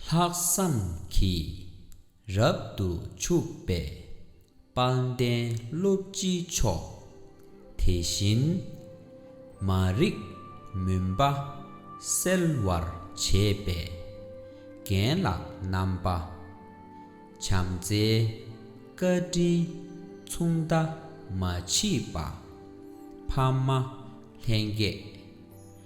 ལྷག་བསམ་གྱིས་རབ་ཏུ་ཕྱུག་པའི་དཔལ་ལྡན་ཀླུ་སྤྱི་མཆོག། དེ་བཞིན་མ་རིག་མུན་པ་སེལ་བར་བྱེད་པའི་རྒན་ལགས་རྣམ་པ། བྱམས་བརྩེའི་བཀའ་དྲིན་མཚུངས་ཟླ་མ་མཆིས་པ། ཕ་མ་ལྷན་རྒྱས།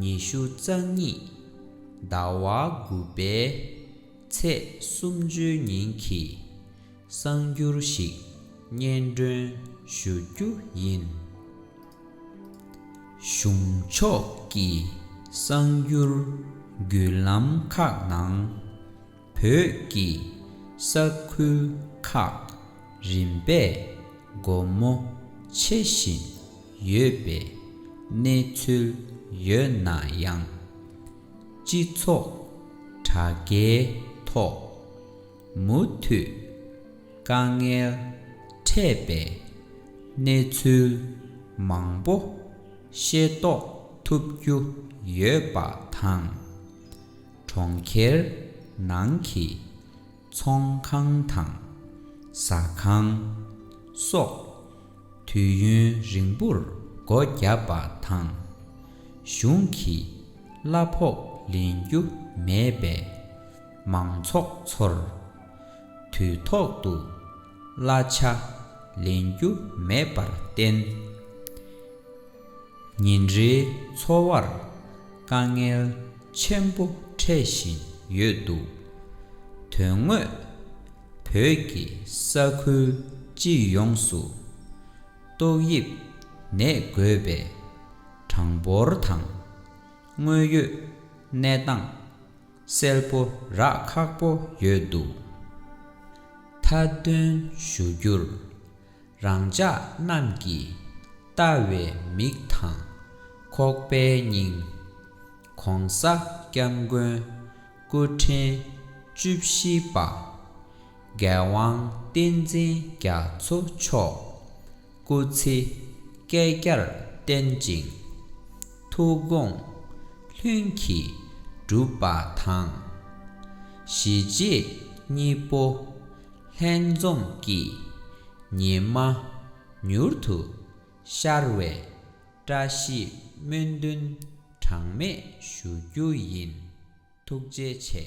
ཉི་ཤུ་རྩ་གཉིས་ཟླ་བ་དགུ་པའི་ཚེས་གསུམ་བཅུའི་ཉིན་གྱི་གསང་འགྱུར་ཞིག་སྙན་སྒྲོན་ཞུ་རྒྱུ་ཡིན། གཞུང་ཕྱོགས་ཀྱི་གསང་འགྱུར་བརྒྱུད་ལམ་ཁག་ནང། བོད་ཀྱི་ས་ཁུལ་ཁག་རིམ་པས་སྒོ་མོ་ཕྱེ་བཞིན་ཡོད་པའི་གནས་ཚུལ་ཡོད་ན་ཡང། སྤྱི་ཚོགས་དྲ་རྒྱའི་ཐོག་མུ་མཐུད་དཀའ་ངལ་འཕྲད་པའི་གནས་ཚུལ་མང་པོ་ཤེས་རྟོགས་ཐུབ་རྒྱུ་ཡོད་པ་དང། གྲོང་ཁྱེར་ནང་གི་ཚོང་ཁང་དང་ཟ་ཁང་སོགས་དུས་ཡུན་རིང་པོར་སྒོ་བརྒྱབ་པ་དང། གཞུང་གི་གླ་ཕོགས་ལེན་རྒྱུ་མེད་པས་མང་ཚོགས་ཚོར་དུས་ཐོག་ཏུ་གླ་ཆ་ལེན་རྒྱུ་མེད་པར་བརྟེན། ཉིན་རེའི་འཚོ་བར་དཀའ་ངལ་ཆེན་པོ་འཕྲད་བཞིན་ཡོད་འདུག་དོན་དངོས་བོད་ཀྱི་ས་ཁུལ་སྤྱི་ཡོངས་སུ་ཏོག་དབྱིབས་ནད་འགོས་པའི་གྲངས་འབོར་དང་དངོས་ཡོད་གནས་སྟངས་གསལ་པོ་རག་ཁག་པོ་ཡོད་འདུག་མཐའ་དོན་ཞུ་རྒྱུར། རང་ཅག་རྣམས་ཀྱིས་བལྟ་བའི་མིག་དང། ཁོག་པའི་སྙིང། ྋགོང་ས ྋསྐྱབས་མགོན་སྐུ་ཕྲེང་བཅུ་བཞི་པ། ྋརྒྱལ་དབང་བསྟན་འཛིན་རྒྱ་མཚོ་མཆོག་སྐུ་ཚེ་བསྐལ་བརྒྱར་བརྟན་ཅིང། ཐུགས་དགོངས་ལྷུན་གྱིས་གྲུབ་པ་དང། གཞིས་བྱེས་གཉིས་པོ། ལྷན་འཛོམས་ཀྱི་ཉི་མ་མྱུར་དུ་ཤར་བའི་བཀྲ་ཤིས་སྨོན་འདུན་གྲངས་མེད་ཞུ་རྒྱུ་ཡིན། ཐུགས་རྗེ་ཆེ།